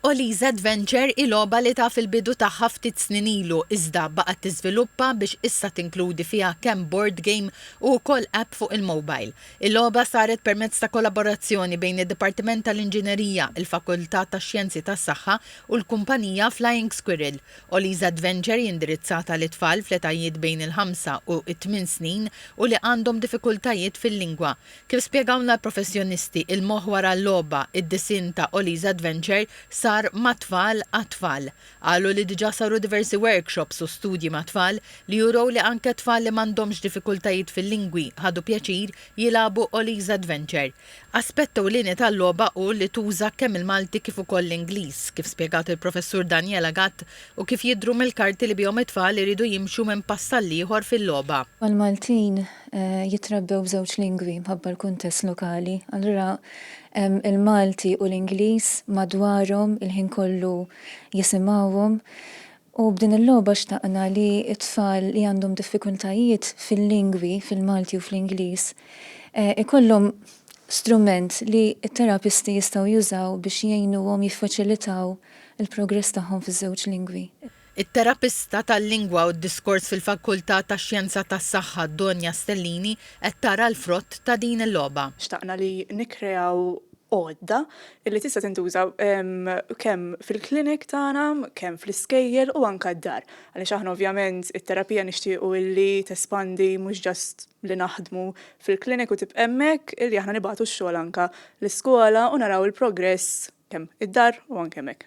Ollie's Adventure hi logħba li taf il-bidu tagħha ftit snin ilu iżda baqgħet tiżviluppa biex issa tinkludi fiha kemm board game u wkoll app fuq il-mobile. Il-logħba saret permezz ta' kollaborazzjoni bejn id-Dipartiment tal-Inġinerija, il-Fakultà tax-Xjenzi tas-Saħħa u l-kumpanija Flying Squirrel. Ollie's Adventure hi indirizzata lit-tfal fl-etajiet bejn il-ħamsa u t-tmien snin u li għandhom diffikultajiet fil-lingwa. Kif spjegawlna l-professjonisti, il-moħħ wara l-logħba, id-disinn ta' Ollie's Adventure sar mat-tfal għat-tfal. Qalu li diġà saru diversi workshops u studji mat-tfal li jurew li anke tfal li m'għandhomx diffikultajiet fil-lingwi ħadu pjaċir jilagħbu Ollie's Adventure. Aspett ewlieni tal-logħba hu li tuża kemm il-Malti kif ukoll l-Ingliż, kif spjegat il-Professur Daniela Gatt, u kif jidhru mill-karti li bihom it-tfal iridu jimxu minn pass għall-ieħor fil-logħba. Mal-Maltin jitrebbew b'żewġ lingwi mħabba l-kuntest lokali. Allura hemm il-Malti u l-Ingliż madwarhom il-ħin kollu jisimgħuhom u b'din il-logħba xtaqna li t-tfal li għandhom diffikultajiet fil-lingwi, fil-Malti u fl-Ingliż, ikollhom strument li t-terapisti jistgħu jużaw biex jgħinuhom jiffaċilitaw il-progress tagħhom fiż-żewġ lingwi. It-terapista tal-lingwa u d-diskors fil-Fakultà tax-Xjenza tas-Saħħa Donia Stellini qed tara l-frott ta' din il-logħba. Xtaqna li nikkreaw għodda li tista' tintuża kemm fil-clinic tagħna, kemm fl-iskejjel u anke d-dar. Għaliex aħna ovvjament it-terapija nixtiequ li tespandi mhux just li naħdmu fil-clinic u tibqa' hemmhekk, li aħna nibgħatu x-xogħol anke l-iskola u naraw il-progress kemm id-dar u anke hemmhekk.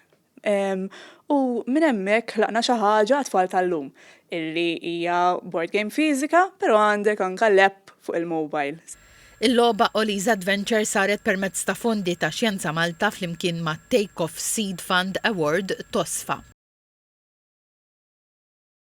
U minn hemmhekk ħlaqna xi ħaġa għat-tfal tal-lum, illi hija board game fiżika, però għandek anke l-app fuq il-mobile. Il-logħba Ollie's Adventure saret permezz ta' fondi ta' Xjenza Malta flimkien mat-Take Off Seed Fund Award, TOSFA.